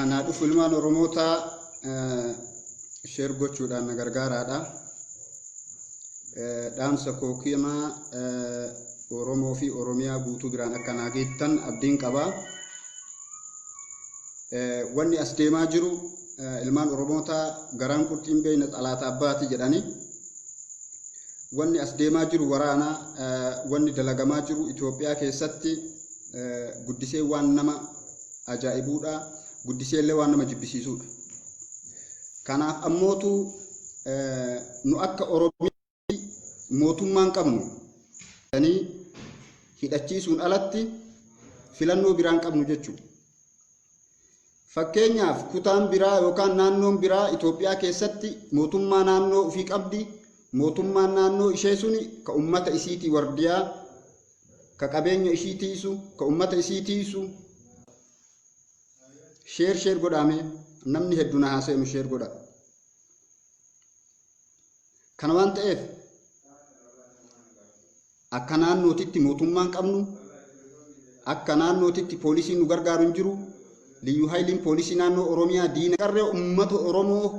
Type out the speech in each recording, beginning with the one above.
Anaa dhufu ilmaan Oromootaa sheer gochuudhaan na gargaaraadha. Dhaamsa koo kiyama Oromoo fi Oromiyaa guutuu biraan akka naa geettan abdiin qaba. Wanni as deemaa jiru ilmaan Oromootaa garaan qurxiin beeyna xalaata abbaati jedhanii Wanni as deemaa jiru waraana, wanni dalagamaa jiru Itoophiyaa keessatti guddisee waan nama ajaa'ibuudha, guddiseellee waan nama jibbisiisuudha. Kanaaf ammootu nu akka Oromiyaatti mootummaan qabnu jedhanii hidhachiisuun alatti filannoo biraan qabnu jechuudha. Fakkeenyaaf kutaan biraa yookaan naannoon biraa Itoophiyaa keessatti mootummaa naannoo ufii qabdi, mootummaan naannoo ishee suni ka ummata isiitii wardiyaa, ka qabeenya ishii tiisu, ka ummata isii tiisu. Share share godhaa mee namni heddu na haa seenu share godhaa. Kana waan ta'eef Akka naannootitti mootummaa hin qabnu, akka naannootitti poolisiin nu gargaaru hin jiru, Liyyuu Hayiliin poolisii naannoo Oromiyaa diina. Qarree uummata Oromoo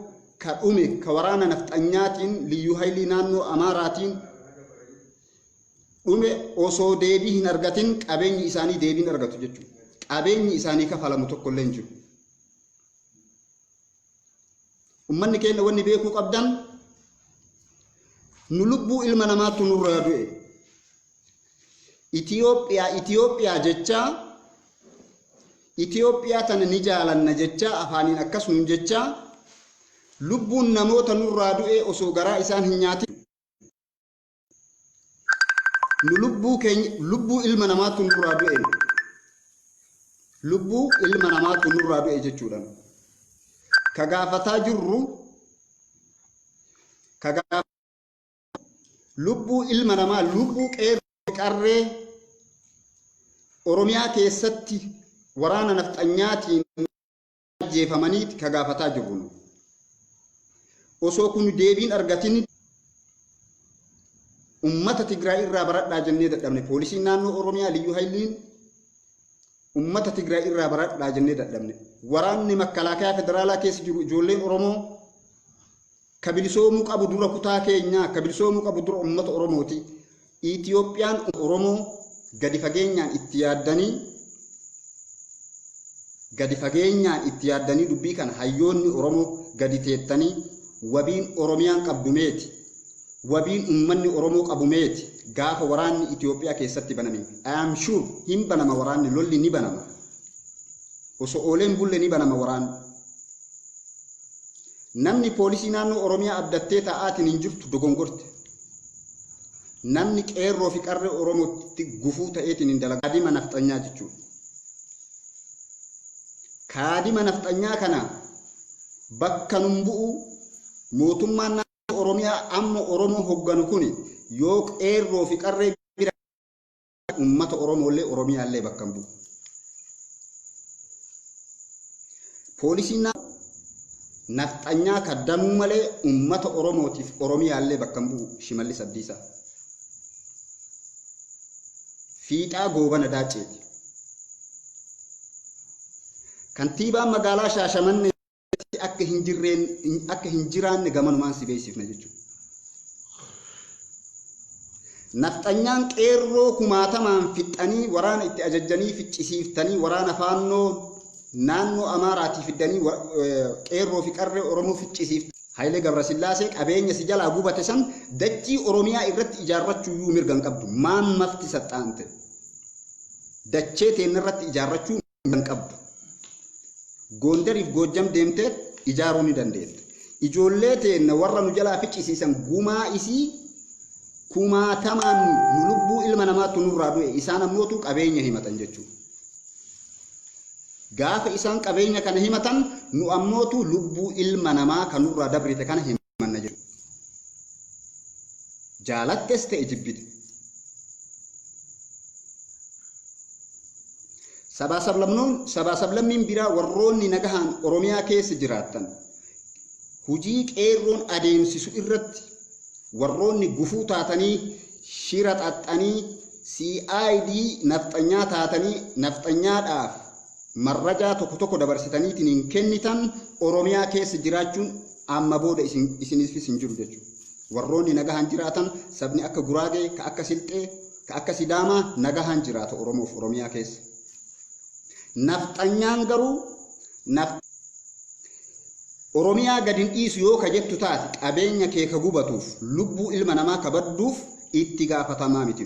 ka dhume ka waraana nafxanyaatiin Liyyuu Hayilii naannoo Amaaraatiin dhume osoo deebii hin argatin qabeenyi isaanii deebiin argatu jechuudha. Qabeenyi isaanii kafalamu tokkollee hin jiru. Ummanni keenna wanni beekuu qabdan nu lubbuu ilma namaattu nurraa du'e. Itiyoophiyaa Itiyoophiyaa jechaa Itiyoophiyaa tana ni jaalanna jechaa afaaniin akkas nuun jechaa lubbuun namoota nurraa du'ee osoo garaa isaan hin nyaatin nu lubbuu keenya lubbuu ilma namaatu nurraa du'e lubbuu ilma namaatu nurraa du'e jechuudha ka gaafataa jirru ka gaaf- lubbuu ilma namaa lubbuu qeerroo qarree oromiyaa keessatti waraana nafxanyaatiin ajjeefamaniiti ka gaafataa jirru nu. Osoo kun deebiin argatin ummata Tigraay irraa baradhaa jennee dadhabne poolisiin naannoo Oromiyaa liyyuu hayliin ummata Tigraay irraa baradhaa jennee dadhabne waraanni makkalaakayaa federaalaa keessa jiru ijoolleen Oromoo Ka bilisoomuu qabu dura kutaa keenyaa, ka bilisoomuu qabu dura ummata Oromooti. Itoophiyaan Oromoo gadi fageenyaan itti yaaddanii gadi fageenyaan itti yaaddanii dubbii kana hayyoonni Oromoo gadi teettanii wabiin Oromiyaan qabdu meeti? Wabiin ummanni Oromoo qabu meeti? Gaafa waraanni Itoophiyaa keessatti baname, I am sure hin banama waraanni, lolli ni banama. Osoo oolee hin bulle ni banama waraanni. Namni poolisii naannoo Oromiyaa abdattee taa'aatiin hin jirtu dogongorte. Namni qeerroo fi qarree Oromootti gufuu ta'eetiin hin dalagaa. Kaadima nafxanyaa jechuudha. Kaadima nafxanyaa kana bakka nun bu'u mootummaan naannoo Oromiyaa amma Oromoo hogganu kuni yoo qeerroo fi qarree Uummata Oromoollee Oromiyaallee bakka hin bu'u. Poolisiin naannoo nafxanyaa kaddamuu malee uummata Oromootiif Oromiyaallee bakka hin bu'u Shimallis Abdiisaa. Fiixaa Goobana Daacceeti. Kantiibaan magaalaa Shaashamannee. keessatti akka hin jirreen akka hin jiraanne gamanumaan si beeksifna jechuudha. Nafxanyaan qeerroo kumaatamaan fixxanii waraana itti ajajjanii ficcisiiftanii waraana faannoo naannoo Amaaraatii fiddanii qeerroo fi qarree Oromoo ficcisiiftanii Hayilee Gabrasillaasee qabeenya si jalaa gubate san dachii Oromiyaa irratti ijaarrachuu iyyuu mirga hin qabdu. Maan mafti saxxaante. Dachee teenna irratti ijaarrachuu hin qabdu. Goondariif Goojjam deemtee ijaaruu ni dandeetta. Ijoollee teenna warra nu jalaa ficcisiisan gumaa isii kumaatamaan nu lubbuu ilma namaattu nurraa du'e isaan ammootu qabeenya himatan jechuudha. Gaafa isaan qabeenya kana himatan nu ammootu lubbuu ilma namaa kan nurraa dabrite kana himatan. amanna jechuudha. Jaalattes ta'e jibbite. Sabaa sablamnoon sabaa sablammiin biraa warroonni nagahaan Oromiyaa keessa jiraattan hujii qeerroon adeemsisu irratti warroonni gufuu taatanii shira xaxxanii CID nafxanyaa taatanii nafxanyaadhaaf Marrajaa tokko tokko dabarsitaniitiin kennitan Oromiyaa keessa jiraachuun amma booda isiniifis hin jiru jechuudha. Warroonni nagahaan jiraatan sabni akka Guraagee, ka akka Silxee, ka akka Sidaamaa nagahaan jiraata Oromoof Oromiyaa keessa. Nafxanyaan garuu Oromiyaa gad hin dhiisu yoo ka jettu taate qabeenya kee ka gubatuuf lubbuu ilma namaa ka badduuf itti gaafatamaa miti.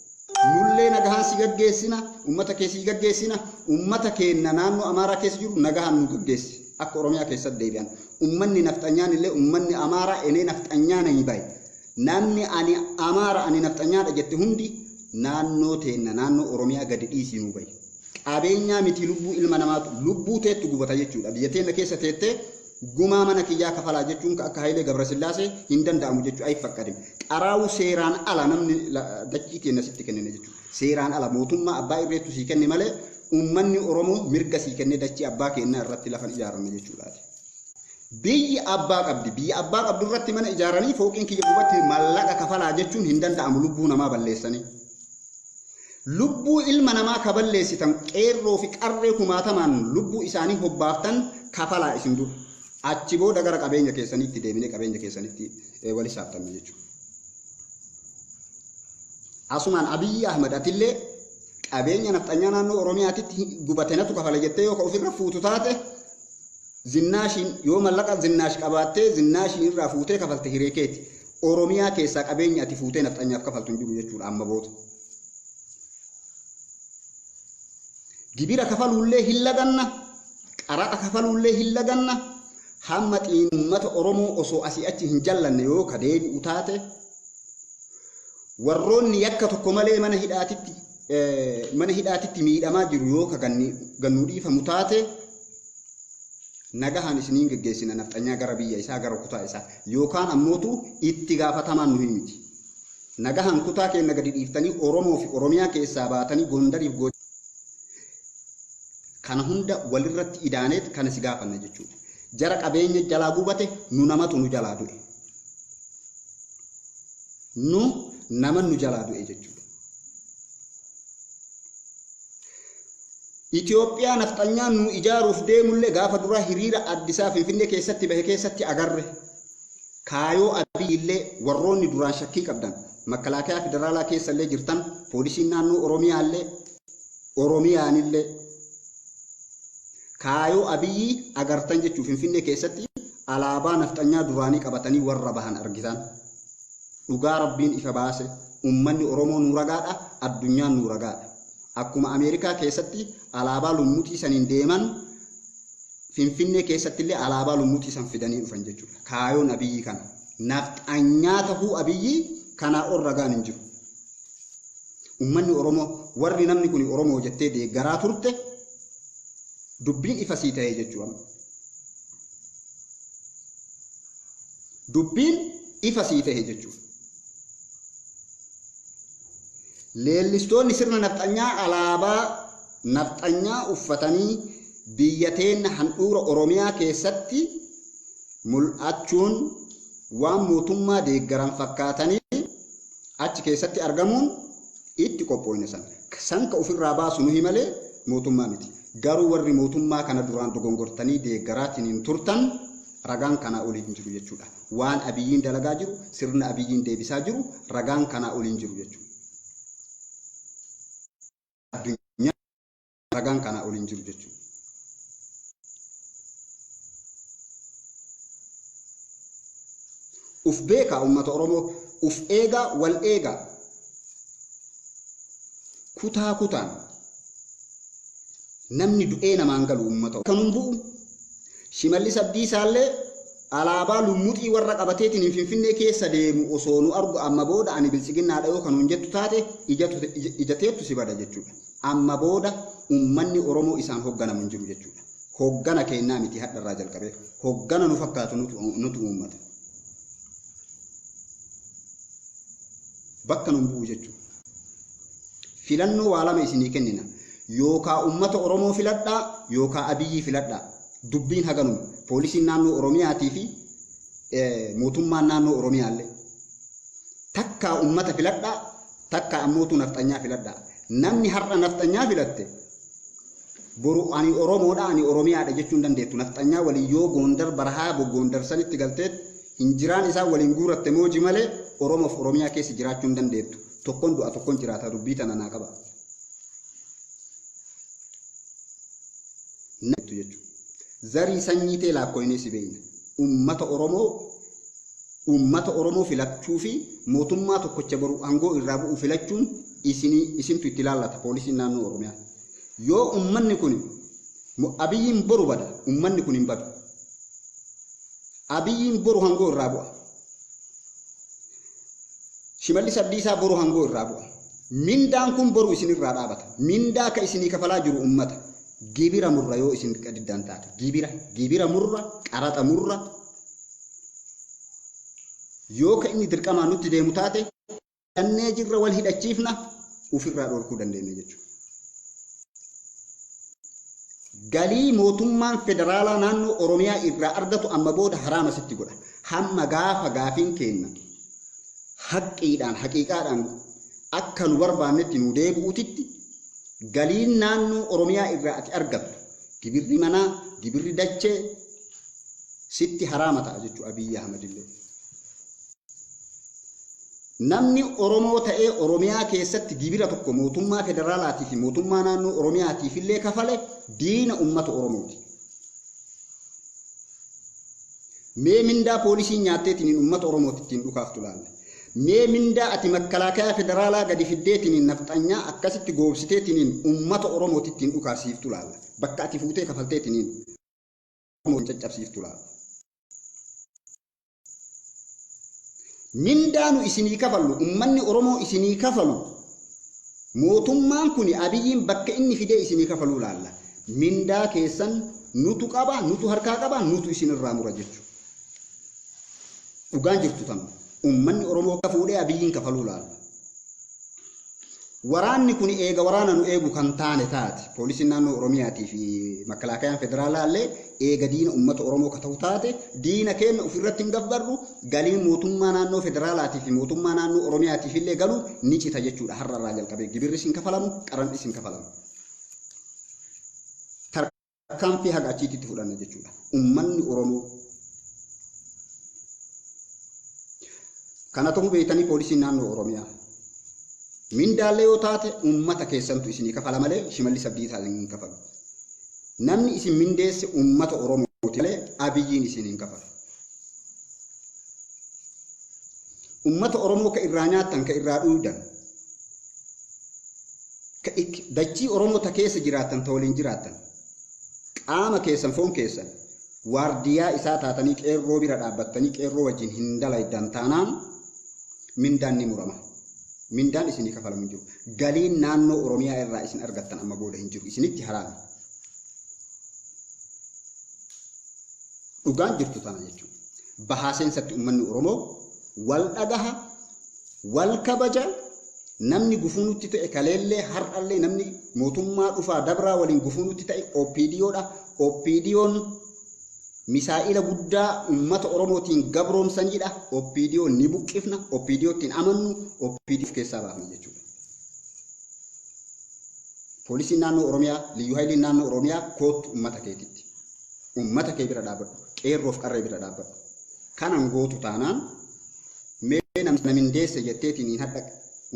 Nullee nagahaan si gaggeessina, ummata kee sii gaggeessina, ummata keenna naannoo Amaaraa keessa jiru nagahaan nuu gaggeessi. Akka Oromiyaa keessatti deebi'an. Ummanni nafxanyaan illee ummanni Amaaraa enee nafxanyaa nanyi baye. Namni ani Amaara ani nafxanyaadha jette hundi naannoo teenna naannoo Oromiyaa gadi dhiisii nuu bayi. Qabeenyaa miti lubbuu ilma namaatu lubbuu teettu gubata jechuudha. Biyya teenna keessa teettee Gumaa mana kiyyaa kafalaa jechuun ka akka Hayilee Gabrasillaasee hin danda'amu jechu ayiffakkadim. Xaraawu seeraan ala namni dachii teenna sitti kennine jechu. Seeraan ala mootummaa abbaa irreettu sii kenne malee ummanni Oromoo mirga sii kennee dachii abbaa keennaa irratti lafan ijaaranne jechuudhaati. Biyyi abbaa qabdi. Biyya abbaa qabdu irratti mana ijaaranii fooqiin kiyya gubatti mallaqa kafalaa jechuun hin danda'amu lubbuu namaa balleessanii. Lubbuu ilma namaa ka balleessitan qeerroo fi qarree kumaatamaan lubbuu isaanii hobbaaftan kafalaa isin dura. Achi booda gara qabeenya keessaniitti deebinee qabeenya keessanitti wal hisaabtanna jechuudha. Asumaan Abiyyi Ahmad atillee qabeenya nafxanyaa naannoo Oromiyaatitti gubate natu kafala jettee yoo ka ofirra fuutu taate Zinnaashiin yoo mallaqa zinnaash qabaattee zinnaashiin irraa fuutee kafalte hiree keeti. Oromiyaa keessaa qabeenyi ati fuutee nafxanyaaf kafaltu hin jiru jechuudha amma booda. Gibira kafaluullee hin laganna, qaraxa kafaluullee hin laganna, hamma xiin uummata Oromoo osoo asii achi hin jallanne yoo ka deebi'u taate warroonni yakka tokko malee mana hidhaatitti mana hidhaatitti miidhamaa jiru yoo ka gannuu dhiifamu taate nagahaan isiniin geggeessina nafxanyaa gara biyya isaa gara kutaa isaa yookaan ammootu itti gaafatamaan nuyi miti. Nagahaan kutaa keenya gadi dhiiftanii Oromoo fi Oromiyaa keessaa baatanii Gondariif gocha kana hunda walirratti idaaneet kana si gaafanna jechuudha. Jara qabeenya jalaa gubate nu namatu nu jalaa du'e. Nu nama nu jalaa du'e jechuudha. Itoophiyaa nafxanyaan nu ijaaruuf deemullee gaafa duraa hiriira Addisaa Finfinnee keessatti bahe keessatti agarre. Kaayoo Abiyyillee warroonni duraan shakkii qabdan makalaakaa federaalaa keessallee jirtan poolisiin naannoo Oromiyaallee Oromiyaanillee kaayoo Abiyyii agartan jechuu Finfinnee keessatti alaabaa nafxanyaa duraanii qabatanii warra bahan argitan. Dhugaa Rabbiin ifa baase ummanni Oromoo nuu ragaadha, addunyaan nuu ragaadha. Akkuma Ameerikaa keessatti alaabaa lummuxii saniin deeman Finfinnee keessattillee alaabaa lummuxii san fidanii dhufan jechuudha. Kaayoon Abiyyii kana. Nafxanyaa tahuu Abiyyii kanaa ol ragaan hin jiru. Ummanni Oromoo warri namni kuni Oromoo jettee deeggaraa turte dubbiin ifa sii tahee jechuu amma. Dubbiin ifa sii tahe jechuuf. Leellistoonni sirna nafxanyaa alaabaa nafxanyaa uffatanii biyya teenna handhuura Oromiyaa keessatti mul'achuun waan mootummaa deeggaran fakkaatanii achi keessatti argamuun itti qophooyne san. San ka ufirraa baasu nuhi malee mootummaa miti. Garuu warri mootummaa kana duraan dogongortanii deeggaraatiniin turtan Ragaan kanaa olii hin jiru jechuudha. Waan Abiyyiin dalagaa jiru, sirna Abiyyiin deebisaa jiru ragaan kanaa olii hin jiru jechuudha. Addunyaa ragaan kanaa olii hin jiru jechuudha. Uf beekaa uummata Oromoo, uf eegaa, wal eegaa. Kutaa kutaan namni du'ee namaan galu uummata kan hin bu'u Shimallis Abdiisaallee alaabaa lummuxii warra qabateetiin Finfinnee keessa deemu osoo nu argu amma booda ani biltsiginnaadha yoo kan nuun jettu taate ija teettu si bada jechuudha. Amma booda ummanni Oromoo isaan hogganamu hin jiru jechuudha. Hoggana keennaa miti hadharraa jalqabee hoggana nu fakkaatu nutu uummata. Bakka nun bu'u jechuudha. Filannoo waa lama isinii kennina. Yookaa ummata Oromoo filadhaa yookaa Abiyyii filadhaa. Dubbiin haganuma. Poolisiin naannoo Oromiyaatii fi mootummaan naannoo Oromiyaallee. Takkaa ummata filadhaa takkaa ammootuu nafxanyaa filadhaa. Namni har'a nafxanyaa filatte boru ani Oromoodha ani Oromiyaadha jechuu hin dandeettu. Nafxanyaa waliin yoo Goondar barahaa Goondar sanitti galteet hin jiraan isaan waliin guuratte mooji malee Oromoof Oromiyaa keessa jiraachuu hin dandeettu. Tokkon du'a tokkon jiraata dubbii tana naa qaba. Namtu jechu. Zarii sanyii tee laakkoynee si beeyna. Ummata Oromoo ummata Oromoo filachuu fi mootummaa tokkocha boru angoo irraa bu'u filachuun isinii isintu itti laallata poolisiin naannoo Oromiyaa. Yoo ummanni kun Abiyyiin boru bada ummanni kun hin badu. Abiyyiin boru angoo irraa bu'a. Shimallis Abdiisaa boru hangoo irraa bu'a. Mindaan kun boru isin irraa dhaabata. Mindaa akka isinii kafalaa jiru ummata. Gibira murra yoo isin diddaan taate. Gibira, gibira murra, qaraxa murra. Yoo ka inni dirqamaan nutti deemu taate Kannee jirra wal hidhachiifna ofirraa dhorkuu dandeenya jechuudha. Galii mootummaan federaalaa naannoo Oromiyaa irraa argatu amma booda haraama sitti godha. Hamma gaafa gaafiin keenna haqqiidhaan haqiiqaadhaan akka nu barbaannetti nu deebi'uutitti galiin naannoo Oromiyaa irraa ati argattu gibirri manaa gibirri dachee sitti haraama ta'a jechuudha Abiyyi Ahmadillee. Namni Oromoo ta'ee Oromiyaa keessatti gibira tokko mootummaa federaalaatii fi mootummaa naannoo Oromiyaatiif illee kafale diina uummata Oromooti. Mee mindaa poolisiin nyaatteetiniin uummata Oromooti ittiin dhukaaftu laalla. Mee mindaa ati makkalaakayaa federaalaa gadi fiddeetiniin nafxanyaa akkasitti goobsiteetiniin uummata Oromooti ittiin dhukaasiiftu laalla. Bakka ati fuutee kafalteetiniin Oromoo hin caccabsiiftu laalla. Mindaa nu isinii kafallu, ummanni Oromoo isinii kafalu, mootummaan kuni Abiyyiin bakka inni fidee isinii kafaluu laalla. Mindaa keessan nutu qaba, nutu harkaa qaba, nutu isin irraa mura jechu. Dhugaan jirtu tanuma. Ummanni Oromoo ka fuudhee Abiyyiin kafaluu laalla. Waraanni kun eega waraana nu eegu kan taane taate, Poolisiin Naannoo Oromiyaatii fi Makkalaakayaan Federaalaa illee eega diina ummata Oromoo ka tahu taate, diina keenna ufi irratti hin gabbarru, galiin Mootummaa Naannoo Federaalaatii fi Mootummaa Naannoo Oromiyaatiif illee galu ni cita jechuu dha. Har'a irraa jalqabee gibirris hin kafalamu, qaran'is hin kafalamu. Tarkaanfii haga achiitti itti fudhanna jechuudha. Ummanni Oromoo kana ta'uu beektanii poolisiin naannoo Oromiyaa mindaallee yoo taate ummata keessantu isinii kafala malee shimallis abdiisaa isin hin kafalu. Namni isin mindeesse ummata Oromooti malee abiyyiin isin hin kafalu. Ummata Oromoo ka irraa nyaattan ka irraa dhuuydan dachii Oromoo ta keessa jiraattan ta waliin jiraattan qaama keessan foon keessan waardiyaa isaa taatanii qeerroo bira dhaabbattanii qeerroo wajjin hin dalaydan taanaan mindaan ni murama. Mindaan isinii kafalamu hin jiru. Galiin naannoo Oromiyaa irraa isin argattan amma booda hin jiru. Isinitti haraami. Dhugaan jirtu tana jechuudha. Bahaa seensatti uummanni Oromoo wal dhagaha Wal kabaja, Namni gufuu nutti ta'e kaleellee har'allee namni mootummaa dhufaa dabraa waliin gufuu nutti ta'e OPDO dha. OPDOn misaa'ila guddaa uummata Oromootiin gabroomsaniidha. OPDO ni buqqifna, OPDO ittiin amannu, OPDO of keessaa baafna jechuudha. Poolisiin naannoo Oromiyaa, Liyyuu Hayiliin naannoo Oromiyaa koottu uummata keetitti. Uummata kee bira dhaabbadhu, qeerroof qarree bira dhaabbadhu. Kanan gootu taanaan Mee namicha na mindeesse jetteetiniin hadha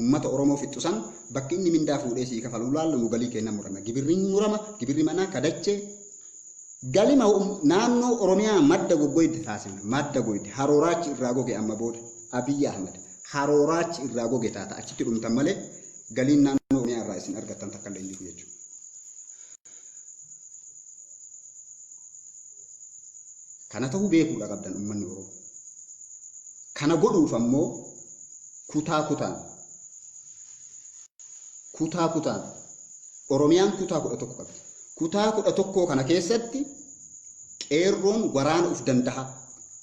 ummata Oromoo fixxu san bakki inni mindaa fuudhee sii kafalu laallu nu galii keenna murana. Gibirri hin murama, gibirri manaa ka dachee galima naannoo Oromiyaa madda goggoydda taasifna. Madda goyde, haroo raachi irraa goge amma booda Abiy Ahmad haroo raachi irraa goge taata achitti dhumtan malee galiin naannoo Oromiyaa irraa isin argattan takka illee hin jiru jechuudha. Kana ta'uu beekuudha qabdan ummanni Oromoo. Kana godhuuf ammoo kutaa kutaan kutaa kutaan Oromiyaan kutaa kudha tokko qabdi. Kutaa kudha tokkoo kana keessatti qeerroon waraana uf danda'a.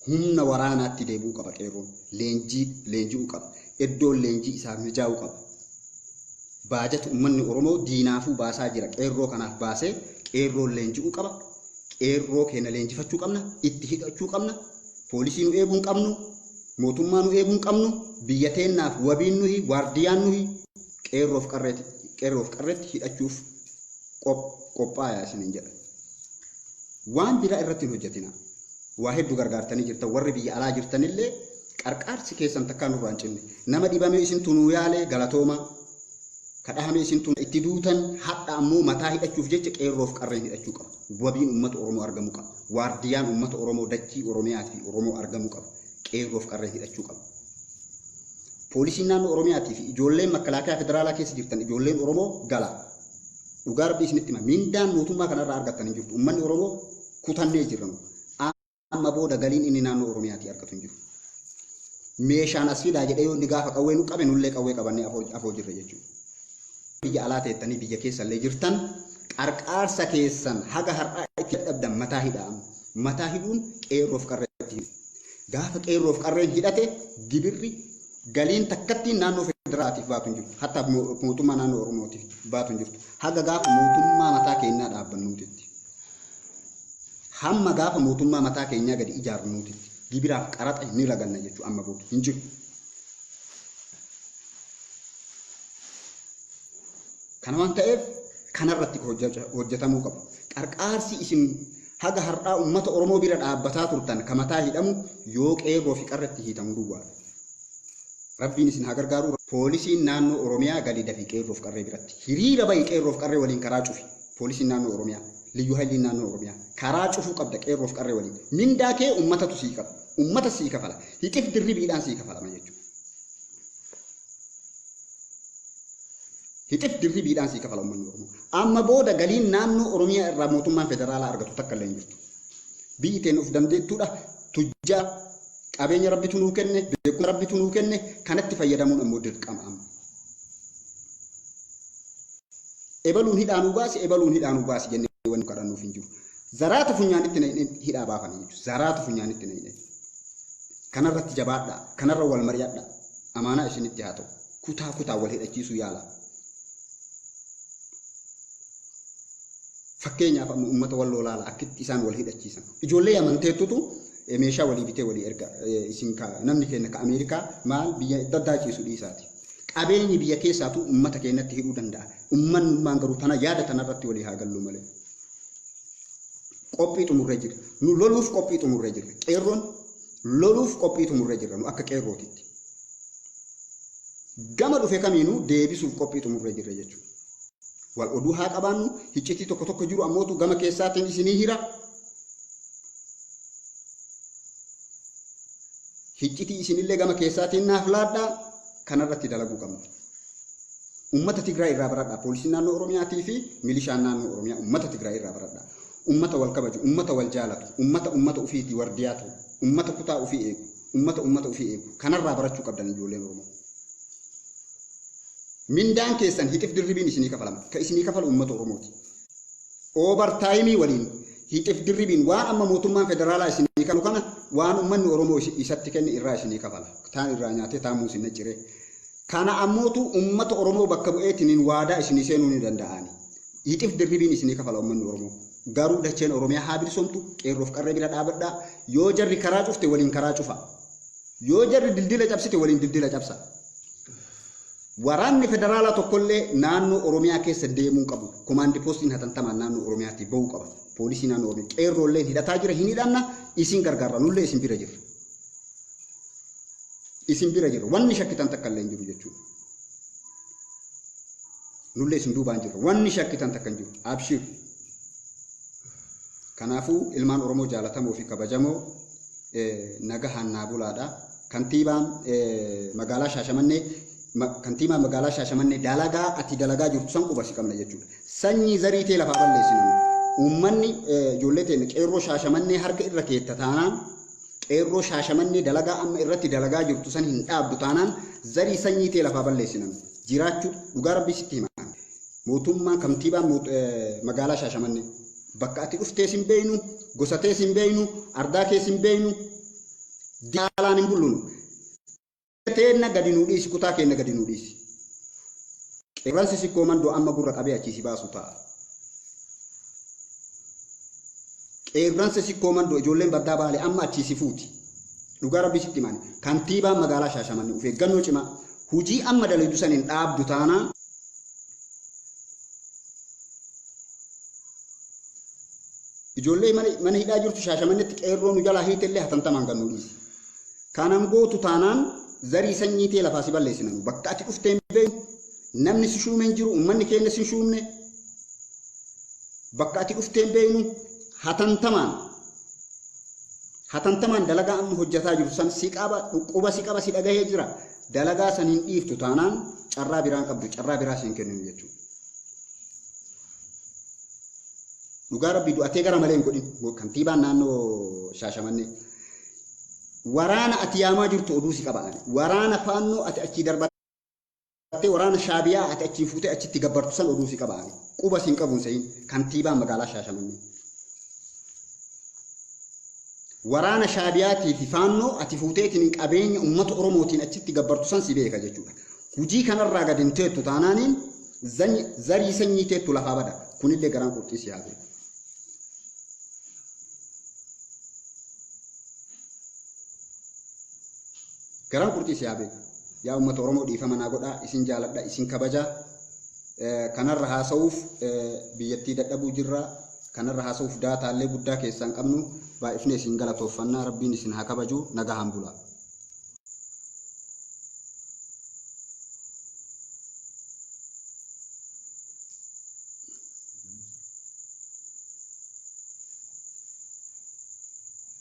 Humna waraanaatti deebi'uu qaba qeerroon. Leenjii leenji'uu qaba. Iddoon leenjii isaaf mijaa'uu qaba. Baajata ummanni Oromoo diinaafuu baasaa jira. Qeerroo kanaaf baasee qeerroon leenji'uu qaba. qeerroo keenya leenjifachuu qabna, itti hidhachuu qabna, poolisii nu eeguu hin qabnu, mootummaa nu eeguu hin qabnu, biyya teennaaf wabiin nuyi, waardiyaan nuyi, qeerroof qarreetti, qeerroof qarreetti hidhachuuf qop- qophaayaa isiniin jedha. Waan biraa irratti hin hojjetina. Waa hedduu gargaartanii jirtan, warri biyya alaa jirtanillee qarqaarsi keessan takkaa nurraa hin cinne. Nama dhibamee isintu nuu yaalee galatoomaa. Ka dhahame isintu itti duutan hadha ammoo mataa hidhachuuf jecha qeerroof qarreen hidhachuu qaba. Wabiin ummata Oromoo argamu qaba. Waardiyaan ummata Oromoo dachii Oromiyaat fi Oromoo argamu qaba. Qeerroof qarreen hidhachuu qaba. Poolisiin naannoo Oromiyaatii fi ijoolleen makkalaakayaa federaalaa keessa jirtan ijoolleen Oromoo gala. Dhugaa rabbii isinitti hima. Mindaan mootummaa kanarraa argattan hin jirtu. Ummanni Oromoo kutannee jirra nu. Amma booda galiin inni naannoo Oromiyaatii argatu hin jiru. Meeshaan as fidaa jedhee yoo inni gaafa qawwee nu qabe nullee qawwee qabannee afoo, afoo jirra jechuudha. Biyya alaa teettanii biyya keessa illee jirtan qarqaarsa keessan haga har'aa itti dadhabdan mataa hidhaa amma. Mataa hidhuun qeerroof qarree itti hidhu. Gaafa qeerroof qarreen hidhate gibirri galiin takkattiin naannoo federaatiif baatu hin jirtu. Hatta mootummaa naannoo Oromootiif baatu hin jirtu. Haga gaafa mootummaa mataa keennaa dhaabbannuutitti. Hamma gaafa mootummaa mataa keenyaa gadi ijaarnuutitti gibiraaf qaraxa ni raganna jechuu amma booda hin jiru. Kana waan ta'eef kanarratti hojjetamuu qabu. Qarqaarsi isin haga har'aa uummata Oromoo bira dhaabbataa turtan ka mataa hidhamu yoo qeerroo fi qarratti hiitamu duwwaa. Rabbiin isin haa gargaaru. Poolisiin naannoo Oromiyaa gali dafi qeerroof qarree biratti. Hiriira bahi qeerroof qarree waliin karaa cufi. Poolisiin Naannoo Oromiyaa, Liyyuu Hayliin Naannoo Oromiyaa karaa cufuu qabda Qeerroof Qarree waliin. Mindaa kee ummatatu sii qaba. Ummata sii kafala. Hixif dirribiidhaan sii kafalama jechuudha. Hixif dirribiidhaan sii kafala ummanni Oromoo. Amma booda galiin naannoo Oromiyaa irraa mootummaan federaalaa argatu takka illee hin jirtu. Biyyi teen of dandeettuudha. Tujjaa qabeenya rabbitu nuu kenne, beekumsa rabbitu nuu kenne, kanatti fayyadamuun ammoo dirqama amma. Ebaluun hidhaa nuu baasi, ebaluun hidhaa nuu baasi jennee wanni kadhannuuf hin jiru. Zaraatu funyaanitti naqnee hidhaa baafana jechuudha. Zaraatu funyaanitti naqnee. Kanarratti jabaadhaa, kanarra wal mari'adhaa. Amaanaa isinitti haa ta'u. Kutaa kutaa wal hidhachiisuu yaala. Fakkeenyaaf amma uummata walloo laala akkitti isaan wal hidhachiisan. Ijoollee amanteettutu meeshaa walii bitee walii erga isin ka namni keenya ka Ameerikaa maal biyya adda addaa ciisu dhiisaati. Qabeenyi biyya keessaatu ummata keenyatti hidhuu danda'a. Ummannummaan garuu tana yaada tanarratti walii haa gallu malee. Qophii xumurree jirra. Nu loluuf qophii xumurree jirra. Qeerroon loluuf qophii xumurree jirra nu akka qeerrootitti. Gama dhufe kamiinuu deebisuuf qophii xumurree jirra jechuudha. Wal oduu haa qabaannu, hiccitii tokko tokko jiru ammootu gama keessaatiin isinii hira. hiccitii isinillee gama keessaatiin naaf laadhaa kanarratti dalaguu qabna. Uummata Tigraay irraa baradhaa poolisiin naannoo Oromiyaatii fi milishaan naannoo Oromiyaa uummata Tigraay irraa baradhaa. Uummata wal kabaju, uummata wal jaalatu, uummata uummata ofiitii wardiyaa ta'u, uummata kutaa ofii eegu, uummata uummata ofii eegu kanarraa barachuu qabdan ijoolleen Oromoo. Mindaan keessan hixif dirribiin isinii kafalama. Ka isinii kafalu uummata Oromooti. Over time waliin hixif dirribiin waan amma mootummaan federaalaa isinii kaffalu kana waan ummanni Oromoo isatti kenne irraa isinii kafala. Taan irraa nyaatee taan muus hin nacciree. Kana ammootu ummata Oromoo bakka bu'eetiniin waadaa isinii seenuu ni danda'aani. Hixif dirribiin isinii kafala ummanni Oromoo. Garuu dacheen Oromiyaa haa bilisomtu qeerroof qarree bira dhaabadhaa. Yoo jarri karaa cufte waliin karaa cufa. Yoo jarri dildila cabsite waliin dildila cabsa. Waraanni federaalaa tokkollee naannoo Oromiyaa keessa deemuu hin qabu. Komaandi poostiin hatantamaan naannoo Oromiyaatii bahuu qaba. Poolisii naannoo Oromiyaa. Qeerroolleen hidhataa jira hin hidhanna isin gargaarra nullee isin bira jirra. Isin bira jirra. Wanni shakkitan takka illee hin jiru jechuudha. Nullee isin duubaan jirra. Wanni shakkitan takka hin jiru. Abshiir. Kanaafuu ilmaan Oromoo jaalatamoo fi kabajamoo nagahaan naa bulaadha. Kantiibaan magaalaa Shaashamannee kantiibaa magaalaa Shaashamannee dalagaa ati dalagaa jirtu san quba si qabna jechuudha. Sanyii zarii tee lafaa balleessi namni. Uummanni ijoollee teenya qeerroo Shaashamannee harka irra keetta taanaan qeerroo Shaashamannee dalagaa amma irratti dalagaa jirtu san hin dhaabdu taanaan zarii sanyii tee lafaa balleessi namni. Jiraachuu dhugaa rabbii sitti hima. Mootummaan kantiibaan magaalaa Shaashamannee. Bakka ati dhuftees hin beeynu, gosa tees hin beeynu, ardaa kees hin beeynu, daalaan hin bullunu. Biyya teenna gadi nuu dhiisi, kutaa keenna gadi nuu dhiisi. Qeerransi sikkoo mandoo amma gurra qabee achii si baasu ta'a. Qeerransa sikkoo mandoo ijoolleen baddaa baale amma achii si fuuti. Dhugaa rabbii sitti himaan kantiibaan magaalaa Shaashamannee of eeggannoo cimaa hujii amma dalaydu san hin dhaabdu taanaan Ijoollee mana hidhaa jirtu shaashamannetti qeerroo nu jalaa hiite illee hatantamaan gannuu dhiisi. Kanan gootu taanaan zarii sanyii tee lafaa si balleessina nu. Bakka ati dhufteen beeknu namni si shuume hin jiru uummanni keenya si shuumne. Bakka ati dhufteen beeknu hatantamaan hatantamaan dalagaa amma hojjetaa jiru san si qaba dhukkuba si qaba si dhagahee jira. Dalagaa san hin dhiiftu taanaan carraa biraan qabdu carraa biraa siin kenninu jechuudha. Dhugaa rabbii du'atee gara malee hin godhin kantiibaan naannoo Shaashamannee. Waraana ati yaamaa jirtu oduu si qaba ani. Waraana faannoo ati achii darbattee waraana shaabiyaa ati achii fuutee achitti gabbartu san oduu si qaba ani. Quba siin qabuun sehin kantiibaan magaalaa Shaashamannee. Waraana Shaabiyaatii fi Faannoo ati fuuteetiin qabeenya uummata Oromootiin achitti gabbartu san si beeka jechuudha. Hujii kanarraa gad hin teettu taanaaniin zany- zarii sanyii teettu lafaa bada. Kunillee garaan qurxii si haa beeku. Garaan qurxii si haa beeku. Yaa uummata Oromoo dhiifama naa godhaa, isin jaaladha, isin kabajaa. Eh, Kanarra haasa'uuf eh, biyyattii dadhabuu jirra. kanarra haasa'uuf daataallee guddaa keessaa hin qabnu. Baay'ifnee isin galatooffanna. Rabbiin isin haa kabaju. Nagahaan bulaa.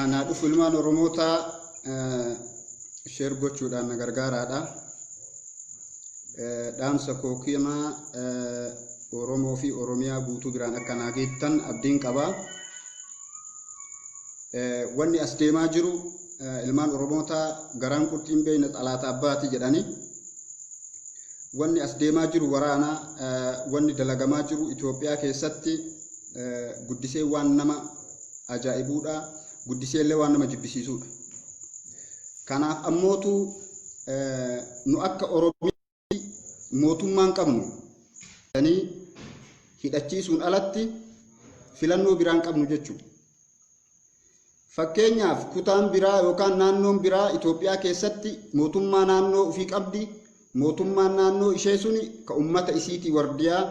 Anaa dhufu ilmaan Oromootaa sheer gochuudhaan na gargaaraadha. Dhaamsa koo kiyama Oromoo fi Oromiyaa guutuu biraan akka naa geettan abdiin qaba. Wanni as deemaa jiru ilmaan Oromootaa garaan qurxiin beeyna xalaata abbaati jedhani. Wanni as deemaa jiru waraana, wanni dalagamaa jiru Itoophiyaa keessatti guddisee waan nama ajaa'ibuudha guddisee illee waan nama jibbisiisuudha kanaaf ammootu nu akka oromii mootummaan qabnu jedhanii hidhachiisuun alatti filannoo biraan qabnu jechuudha. Fakkeenyaaf kutaan biraa yookaan naannoon biraa Itoophiyaa keessatti mootummaa naannoo ofii qabdi. Mootummaan naannoo ishee suni ka ummata isiitii wardiyaa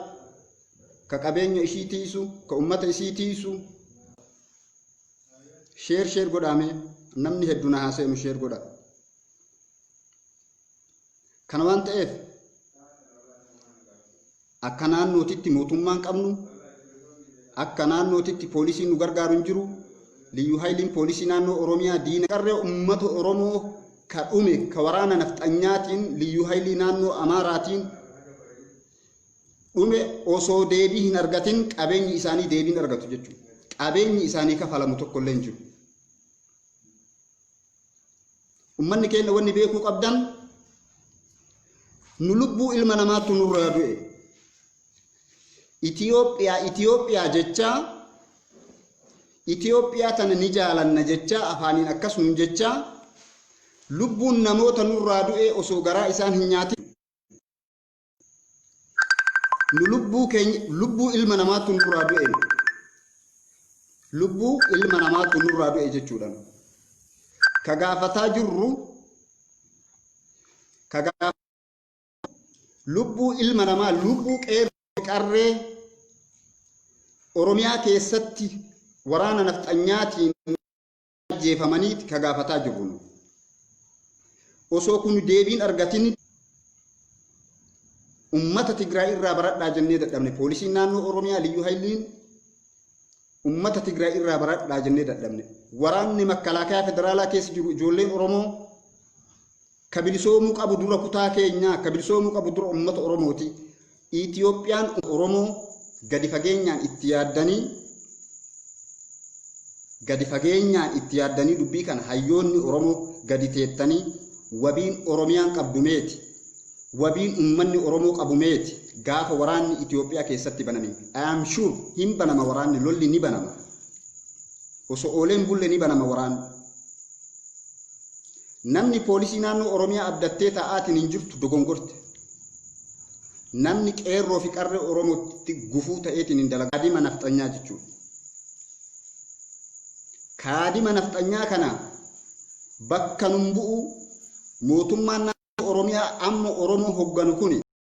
ka qabeenya ishii tiisu ka ummata isii tiisu sheer sheer godhaame namni heddu na haa seenu sheer godha kana waan ta'eef akka naannootitti mootummaan qabnu akka naannootitti poolisiin nu gargaaru hin jiru liyyuu hayiliin poolisii naannoo oromiyaa diina qarree ummata oromoo ka dhume ka waraana nafxanyaatiin liyyuu hayilii naannoo amaaraatiin dhume osoo deebii hin argatin qabeenyi isaanii deebiin argatu jechuudha. Qabeenyi isaanii kafalamu tokko illee hin jiru. Ummanni keenya wanni beekuu qabdan nu lubbuu ilma namaattu nurraa du'e. Itoophiyaa Itoophiyaa jechaa Itoophiyaa tana ni jaalanna jechaa afaaniin akkas nuun jechaa lubbuun namoota nurraa du'e osoo garaa isaan hin nyaatin nu lubbuu keenya lubbuu ilma namaatu nurraa du'e lubbuu ilma namaatu nurraa du'e jechuudha ka gaafataa jirru ka gaaf- lubbuu ilma namaa lubbuu qeerroo qarree oromiyaa keessatti waraana nafxanyaatiin ajjeefamaniiti ka gaafataa jirru nu. Osoo kun deebiin argatin ummata Tigraay irraa baradhaa jennee dadhabne poolisiin naannoo Oromiyaa liyyuu hayliin ummata Tigraay irraa baradhaa jennee dadhabne waraanni makkalaakayaa federaalaa keessa jiru ijoolleen Oromoo Ka bilisoomuu qabu dura kutaa keenyaa, ka bilisoomuu qabu dura ummata Oromooti. Itoophiyaan Oromoo gadi fageenyaan itti yaaddanii gadi fageenyaan itti yaaddanii dubbii kana hayyoonni Oromoo gadi teettanii wabiin Oromiyaan qabdu meeti? Wabiin ummanni Oromoo qabu meeti? Gaafa waraanni Itoophiyaa keessatti baname I am sure hin banama waraanni lolli ni banama. Osoo oolee hin bulle ni banama waraanni. Namni poolisii naannoo Oromiyaa abdattee taa'aatiin hin jirtu dogongorte. Namni qeerroo fi qarree Oromootti gufuu ta'eetiin hin dalagu. Kaadima nafxanyaa jechuudha. Kaadima nafxanyaa kana bakka nun bu'u mootummaan naannoo Oromiyaa amma Oromoo hogganu kuni